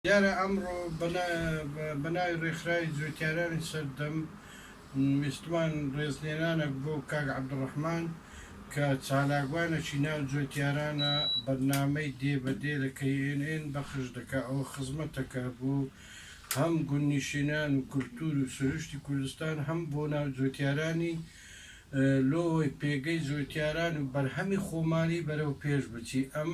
دیارە ئەمڕۆ بە ناوی ڕێکخراوی جووتیارانی سەردەم ویستمان ڕێزلێنانەک بۆ کاک عەبدوڕەحمان کە چالاکوانەکی ناو جووتیارانە بەرنامەی دێ بە دێ لە knn بەخش دەکا ئەوە خزمەتەکە بۆ هەم گوندنیشینان و کولتوور و سروشتی کوردستان هەم بۆ ناو جووتیارانی لۆ ئەوەی پێگەی جووتیاران و بەرهەمی خۆمالی بەرەو پێش بچی ئەم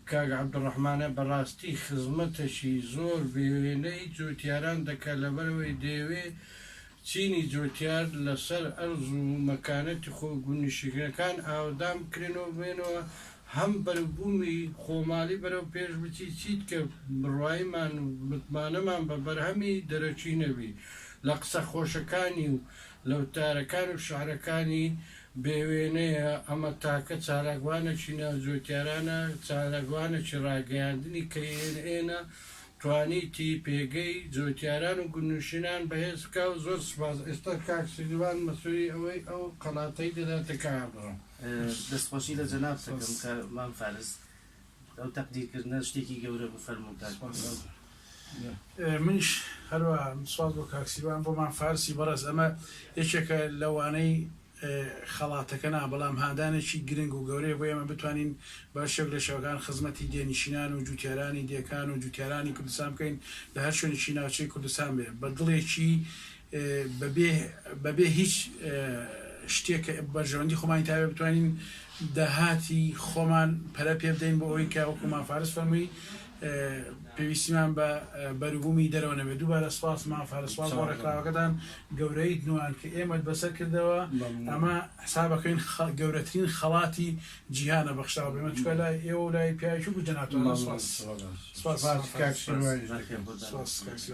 کاک عبدالرحمانە بەڕاستی خزمەتەکی زۆر بێوێنەی جوتیاران دەکا لەبەرئەوەی دەیەوێ چینی جوتیار لەسەر ئەرز و مەکانەتی خۆ و گوند نیشیگرەکان ئاوەدان بکرێنەوە بێنەوە هەم بەروبومی خۆماڵی بەرەو پێش بچی چیت کە بڕوایمان و متمانەمان بە بەرهەمی دەرەکی نەبی لە قسە خۆشەکانی و لە وتارەکان و شعرەکانی بێ وێنەیە، ئەمە تاکە چالاکوانێکی ناوجۆتیارانە، چالاکوانێکی ڕاگەیاندنی کە ئێن ئێنە توانیتی پێگەی جۆتیاران و گوندنشینان بەهێز بکا و زۆر سوپاس ئێستا کاک سیروان مەسولی ئەوەی ئەو قەڵاتەی دەداتە کاک عەبدوڕەحمان. دەستخۆشی لە جەنابتەکەم کە مام فارس ئەو تەقدیر کردنە شتێکی گەورە بوو فەرموو کاک سپاس بۆ منیش هەروا سپاس بۆ کاک سیروان بۆ مام فارسی بەڕێز ئەمە یەکێکە لەوانەی خەڵاتەکە نا بەڵام هاندانێکی گرنگ و گەورەیە بۆ ئێمە بتوانین بە شێک لە شێوەکان خزمەتی دێنشینان و جووتیارانی دێکان و جووتیارانی کوردستان بکەین لە هەر شوێنێکی ناوچەی کوردستان بێ بە دڵێکی بە بێ هیچ شتێک کە بەرژەوەندی خۆمانی تابێت بتوانین داهاتی خۆمان پەرە پێ بدەین بۆ ئەوی کە وەکو مافارس فەرمووی پێویستیمان بە بەروبوومی دەرەوە نەبێت دووبارە سپاس مافارسوال بۆ ڕێکخراوەکەتان گەورەیت نوان کە ئێمەت بەسەر کردەوە ئەمە حسابەکەین گەورەترین خەڵاتی جیهانە بەخشاو بێمە چکە لای ئێوە لای پیاوی بجەناتوە سپاس سپاس